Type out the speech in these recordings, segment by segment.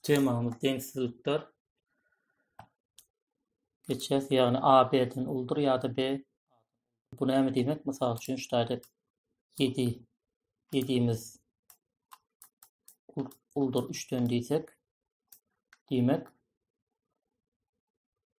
temamyz deňsizlikdir. Geçýäs, ýagny A B-den uldur ýa-da B. Bu näme diýmek? Mysal üçin, şu taýda 7 7-miz uldur 3-den diýsek, diýmek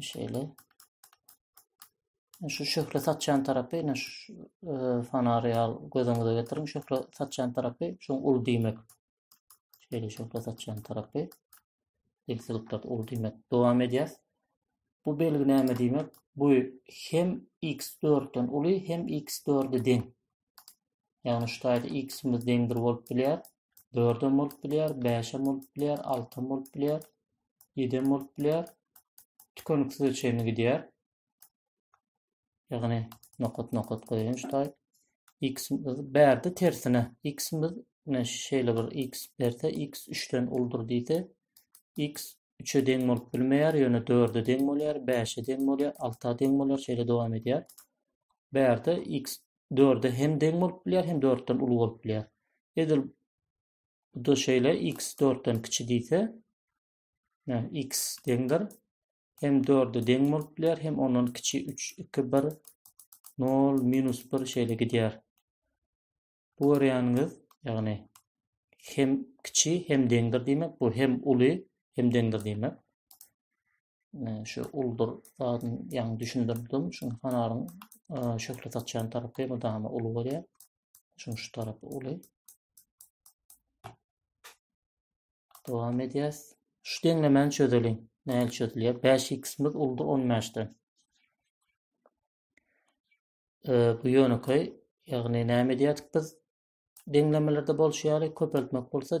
Şeýle. Şu şöhle saçan tarapy, ýa şu e, fanary al gözüňize getiriň. Şöhle saçan tarapy, şu ul diýmek. Şeýle şöhle saçan tarapy. Eksilipdir ul diýmek. Dowam edýäs. Bu belgi näme diýmek? Bu hem x4-den uly, hem x4-e deň. Ýagny şu taýda x-imiz deň bir bolup bilýär, dördem bolup bilýär, bäşem bolup bilýär, altam bolup bilýär, ýedem bolup bilýär. Tükeniksize çenli gidýär. Ýagny nokat-nokat goýaýyn şu taý. X-imiz bärde tersine. X-imiz men şeýle bir x berse, x 3-den uludyr diýse, x 3-e deň bolup bilmeýär, ýöne 4-e deň bolýar, 5-e deň bolýar, 6-a deň bolýar, şeýle dowam edýär. Bärde x dörde hem deň bolup bilýär, hem dörtden uly bolup bilýär. Edil bu da şeýle x dörtden kiçi diýse, x deňdir. Hem dörde deň bolup bilýär, hem ondan kiçi 3, 2, 1, 0, minus 1 şeýle gidýär. Bu görýäniňiz, ýagny hem kiçi, hem deňdir diýmek, bu hem uly, hem deňdir diýmek. şu uldur zadyny ýaňy düşündirdim. Şu kanalyň şöhlet açýan tarapy mydama uly bolýar. Şu şu tarapy uly. Dowam edýäs. Şu deňlemäni çözeliň. Näl çözülýär? 5x-miz uldur 15-den. E, bu ýönekeý, ýagny näme edýärdik biz? Deňlemelerde bolşy ýaly köpeltmek bolsa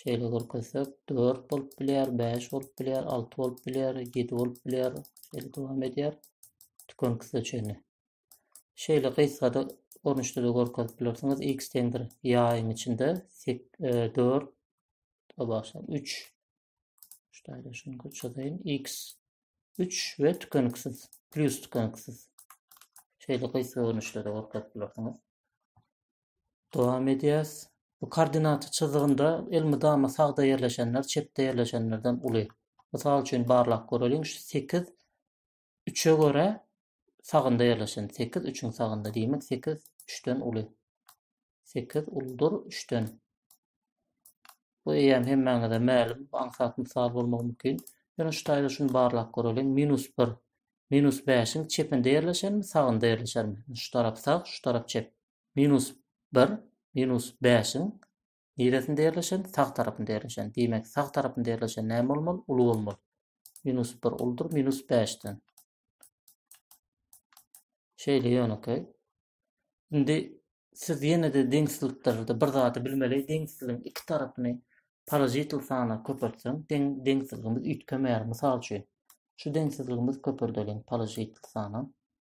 Şeýle görkezsek, 4 bolup bilýär, 5 bolup bilýär, 6 bolup bilýär, 7 bolup bilýär. Şeýle dowam edýär. Tükeniksize çenli. Şeýle gysgada görnüşde de görkezip bilersiňiz. X deň bir ýaýyň içinde 4 e, başlap 3 şeýle şuny köçüreyim. X 3 we tükeniksiz, plus tükeniksiz. Şeýle gysga görnüşde de görkezip bilersiňiz. Dowam edýäs. Bu koordinata çyzygynda elmydama sagda ýerleşenler çepde ýerleşenlerden uly. Mysal üçin barlap göreliň, şu sekiz üçe görä sagynda ýerleşen. Sekiz üçiň sagynda. Diýmek, sekiz üçden uly. Sekiz uludyr üçden. Bu eýýäm hemmäňize mälim, aňsat mysal bolmagy mümkin. Ýöne şu taýda şuny barlap göreliň. Minus bir, minus bäşiň çepinde ýerleşermi, sagynda ýerleşermi? Şu tarap sag, şu tarap çep. Minus bir, minus bäşiň niresinde ýerleşen? Sag tarapynda ýerleşen. Diýmek, sag tarapynda ýerleşen näme bolmaly? Uly bolmaly. Minus bir uldyr minus bäşden. Şeýle ýönekeý. Indi siz ýene-de deňsizlikde bir zady bilmeli, deňsizligiň iki tarapyny parazitil sana köpeltseň, deň deňsizligimiz üýtgemeýär. Mysal üçin, şu deňsizligimiz köpeldeliň parazitil sana.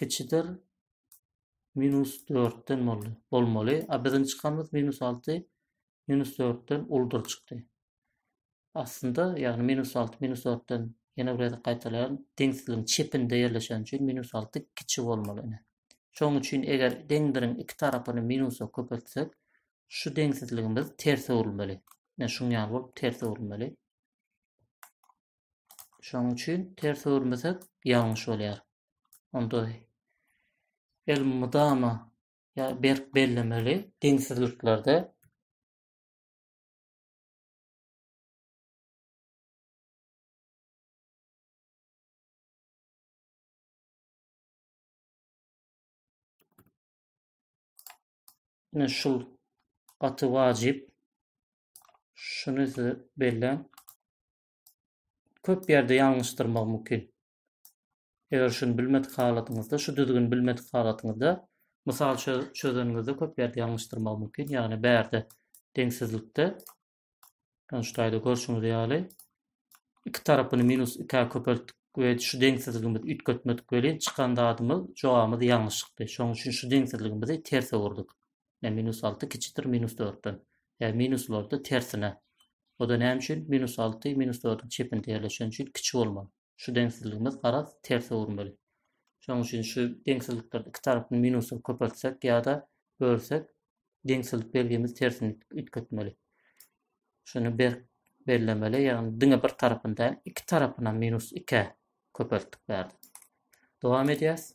kiçidir minus dörtden boldy bolmaly a biziň çykanymyz minus alty minus dörtden uldur çykdy aslynda ýagny minus alty minus dörtden ýene bir gezek gaýtalaýan deňsizligiň çepinde ýerleşen üçin minus alty kiçi bolmaly ine şoň üçin eger deňdiriň iki tarapyny minusa köpeltsek şu deňsizligimiz ters öwrülmeli ine şuň ýaly bolup ters öwrülmeli Şonuň üçin ters öwürmesek ýalňyş bolýar. Onda el mydama ýa berk bellemeli deňsizliklerde Ine şul gaty wajyp. Şuny size belläň. köp ýerde ýalňyşdyrmagy mümkin. Eger şuny bilmedik halatyňyzda, şu düzgüni bilmedik halatyňyzda mysal çözeniňizde köp ýerde ýalňyşdyrmagy mümkin. Ýagny bärde deňsizlikde ýagny şu taýda görşüňiz ýaly iki tarapyny minus 2-ä köpeltdik we şu deňsizligimizi üýtgetmedik welin çykan zadymyz jogabymyz ýalňyş çykdy. Şonuň üçin şu deňsizligimizi terse öwürdik. Ine, minus alty kiçidir minus dörtden. Ýa minus boldy tersine. O-da näme üçin? Minus alty minus dördüň çepinde ýerleşen üçin kiçi bolmaly. Şu deňsizligimiz garaz terse öwürmeli. Şonuň üçin şu deňsizlikleri iki tarapyny minusa köpeltsek ýa-da bölsek, deňsizlik belgimiz tersine üýtgetmeli. Şuny berk bellemeli, ýagny diňe bir tarapyny däl, iki tarapyny minus ikä köpeltdik bärde. Dowam edýäs.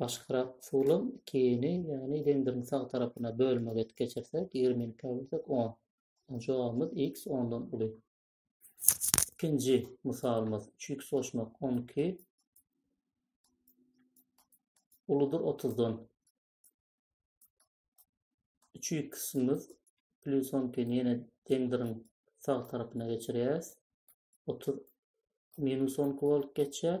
Başgarak usulam iki ýene ýagny zendirin sag tarapyna bölmegi edip geçirsek ýigrimi ýyl käbelesek on. Onda jogabymyz x ondan uly. Ikinji mysalymyz üç x goşmak on iki uludyr otuzdan. Üç x-imiz plus on ikini ýene zendirin sag tarapyna geçirýäris. Otuz minus on iki bolup geçýär.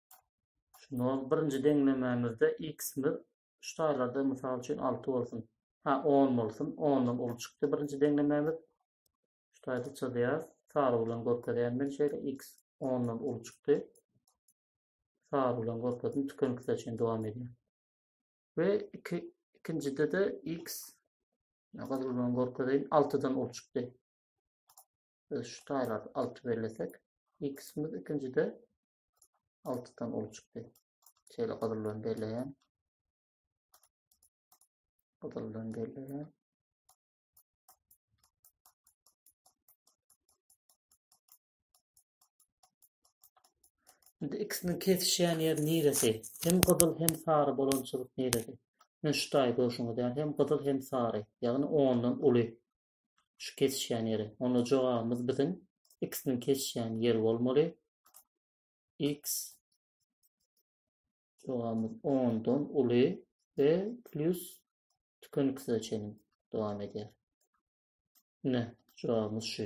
Şunda birinji deňlemämizde x-imiz şu taýlarda mysal üçin 6 bolsun. Ha 10 bolsun. 10-dan uly çykdy birinji deňlemämiz. Şu taýda çyzýar. Sary bilen görkezýän men şeýle x 10-dan uly çykdy. Sary bilen görkezdim. Tükeniksiz üçin dowam edýär. Ve iki, ikincide de x gyzyl bilen görkezeýin 6-dan uly çykdy. Biz şu taýlar 6 bellesek, x-imiz ikincide 6 dan uly çykdy. Şeýle gyzyl bilen belleýän. Gyzyl bilen belleýän. Şimdi ikisini kesişen yer niresi? Hem gyzyl hem sarı bolan çyzyk niresi? Müştay görüşüňiz ýaly hem gyzyl hem sary, ýagny ondan uly. şu kesişýän ýeri. Onda jogabymyz biziň x-niň kesişýän ýeri bolmaly. x jogabymyz 10 dan uly we plus tükeniksize çenli dowam edýär. Ne, jogabymyz şu.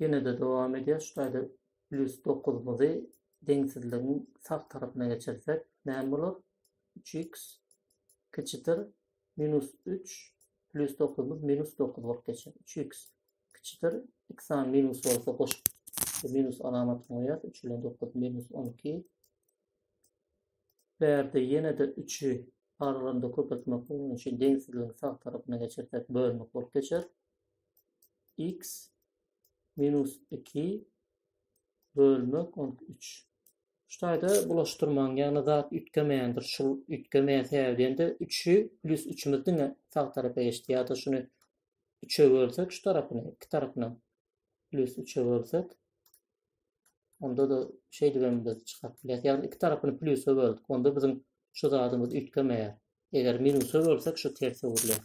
Ýene-de dowam edýär. Şu taýda plýus dokuzymyzy deňsizligiň sag tarapyna geçirsek, näme bolar? Üç iks kiçidir minus üç plýus dokuzymyz minus dokuz bolup geçer. Üç iks kiçidir iksan minus bolsa goşup minus alamatyny goýýar. Üç bilen dokuz minus on iki. Bu ýerde ýene-de üçi aralarynda köpeltmek bolan üçin deňsizligiň sag tarapyna geçirsek bölmek bolup geçer. x minus 2 bölmek 13. Şu taýda bulaşdyrmaň, ýagny zat üýtgemeýändir. Şu üýtgemeýän sebäbinde 3-i plus 3-ümiz diňe sag tarapa geçdi. Ýa-da şuny 3-e bölsek şu tarapyny, iki tarapyny plus 3-e bölsek onda da şeýdip hem biz çykaryp bilýäris. Ýagny iki tarapyny plusa böldük. Onda biziň şu zadymyz üýtgemeýär. Eger minusa bölsek şu terse öwrülýär.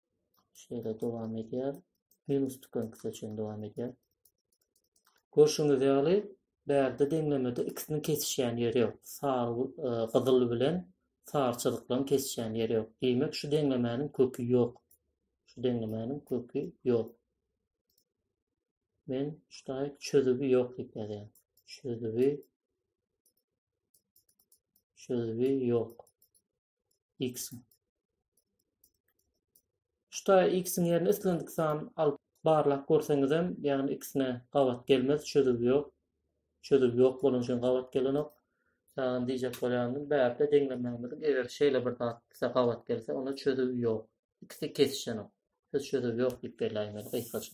Şeýle dowam edýär. Minus tükenkisi üçin dowam edýär. Görşüňiz ýaly, bärde deňlemede ikisiniň kesişýän ýeri ýok. Sary e, gyzyl bilen sary çyzyklaryň kesişýän ýeri ýok. Diýmek, şu deňlemäniň köki ýok. Şu deňlemäniň köki ýok. Men ştaýk çözübi ýok diýip ýazýan. Çözübi çözübi ýok. x. Şuta x-iň ýerine islendik san alyp barlap görseňizem, ýagny x-ine gabat gelmez, çözüw ýok. Çözüw ýok bolan üçin gabat gelenok. Ýagny diýjek bolýanymyz, bärde deňlemämiziň eger şeýle bir zat bize gabat gelse, onda çözüw ýok. X-i kesişenok. Biz çözüw ýok diýip belläýmeli gysgaça.